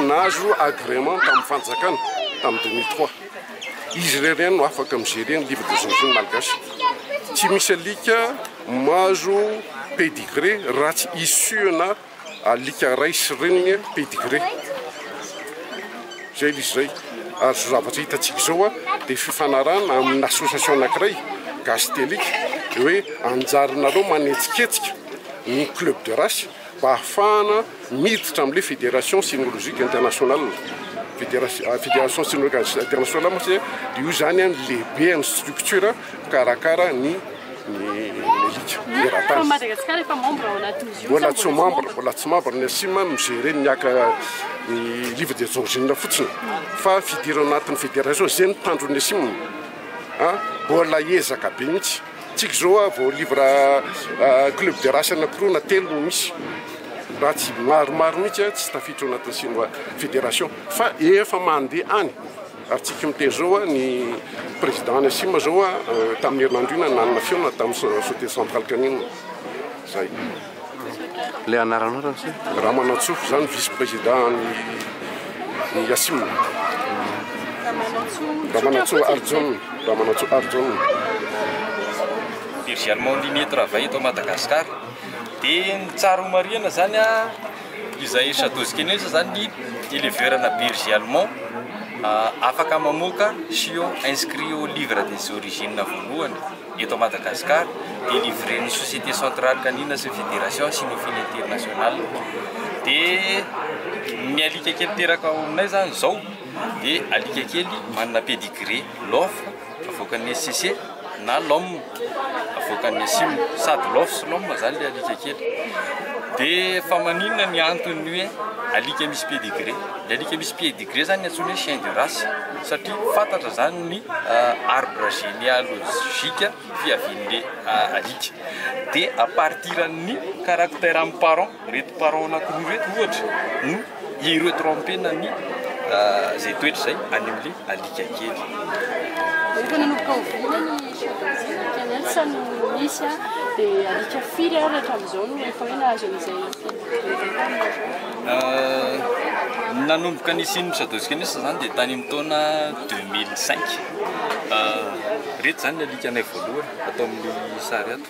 nahazo agrément tamin'ny fanjakana tamin'ny 2003. Izy irery ihany no afaka mi-gérer ny livre des origines malgache. Tsy misy alika mahazo pédigré raha tsy issue-na Alika ray sy reniny pedigree izay izy izay ary izao zavatra hitantsika izao dia fifanarahana amin'ny association anankiray gasy alika dia hoe anjaranareo manetsiketsika ny club de race mba hahafahana miditra amin'ilay fédération cynologique internationale fédération cynologique internationale moa izany dia io izany ny lehibe an'ny structure mpikarakara ny ny elite eratany. Madagasikara efa membre ao anaty OSIM. Mbola tsy membre, mbola tsy membre ny OSIM, mi-gérer ny aka ny livre de origine fotsiny. Fa fidirana anatin'ny fédération izay ny tanjon'ny OSIM. Ah, mbola ezaka be mihitsy. Tsika izao ah, vao livre ah, club de race anankiroa na telo no misy. Raha tsy maromaro mihitsy ah, tsy tafiditra ao anatin'ny sinoa fédération. Fa efa mandeha any. Atsika miteny zao a, ny président any Sima zao a, tamin'ny herinandro io nanana fihaonana tamin'ny Société Centrale Kanina. Zay. Le anaranao raha miseho. Ramanantsoa, za ny vice président any ny Asim. Ramanantsoa Arjun, Ramanantsoa Arjun. Virgile Maulimier travaille eto Madagascar dia ny tsara homarihina zany a. Izay Chateau Zikinia izao izany ny éleveur ana berger allemand afaka mamoaka chiot inscrit au livre des origines voalohany eto Madagascar dia livren'ny société centrale canine sy ny fédération Cynophile internationale. Dia ny alika kely teraka ao aminay izany izao dia alika kely manana pedigree, l'offre. Avoakan'ny SCC na LOM, avoakan'ny ASIM, sady LOF sy LOM zany le alika kely. De fa maninona ny antony hoe alika misy pedigree? Le alika misy pedigree zany antsoina hoe chien de race satria fantatra zany ny euh, arbre généalogique fiavian'le euh, alika. De à partir an'ny caractère am parent Ireto parents anakiroa ireto ohatra no hi-retromper-na ny izay toetra izay any amin'ilay alika kely. Efa nanomboka oviana ny championship kennel sa no misy an? Dia alika firy ary hatramin'izao no efa hoe nahazo an'izay fididiana? Nanomboka nisian'ny shadows kennels izany dia tany amin'ny taona deux mille cinq. Ireto izany ny alikanay voalohany ato amin'ny sary ato.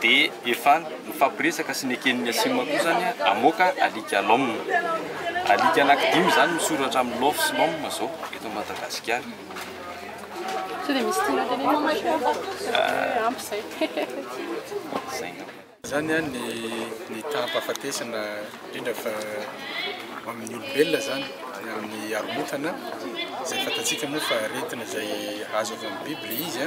dia efa nifampiresaka sy neken'ny Asim koa izany hamoaka alika lom. Alika anankidimy izany misoratra amin'ny lof sy lom izao eto Madagasikara. Sao dia misy tiana tenenina moa ianao fa sao dia hoe ampy izay. Izay angamba. Izany ny ny taham-pahafatesana indrindra fa amin'ny olombelona izany na amin'ny haromontana izay fantatsika moa fa aretina izay azo avy amin'ny biby ilay izy.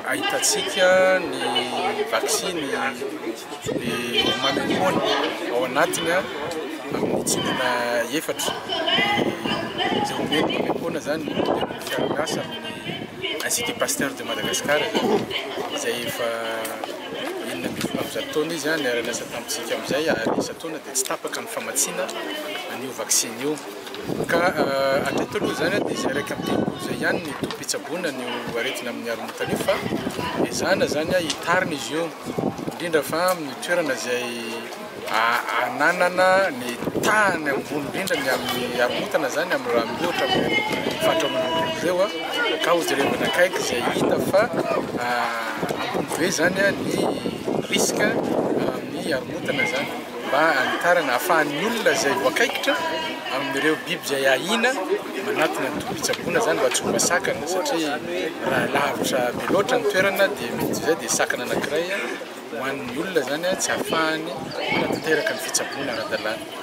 Ahitantsika ny vaksiny dia manombohana ao anatiny amin'ny tsindrona efatra, izay hoe ny manombohana izany dia ny fiaraha-miasa amin'ny Institut Pasteur de Madagascar izay efa enina ambin'ny folo amby zato taona izy niara-niasa tamintsika amin'izay ary isan-taona dia tsy tapaka ny famatsiana an'io vaksiny io. Ka hatreto aloha izany dia izay iraika amby telopolo izay ihany ny tobim-pitsaboana an'io aretina amin'ny haromontana io fa ezahina izany hitarina izy io indrindra fa amin'ny toerana izay ananana ny tahany ambony indrindra ny amin'ny haromontana izany amin'ny raha miohatra amin'ny faritra Antananarivo ireo ka hojerevana akaiky izay hita fa ambony be izany ny risque amin'ny haromontana izany. mba hanitarana ahafahan'ny olona izay voakaikitra amin'ireo biby izay ahiana manatona ny tobi-pitsaboana izany mba tsy ho masakana satria raha lavitra be loatra ny toerana dia mety izay dia sakana anankiray ho an'ny olona izany tsy ahafahany manatanteraka ny fitsaboana ara-dalàna.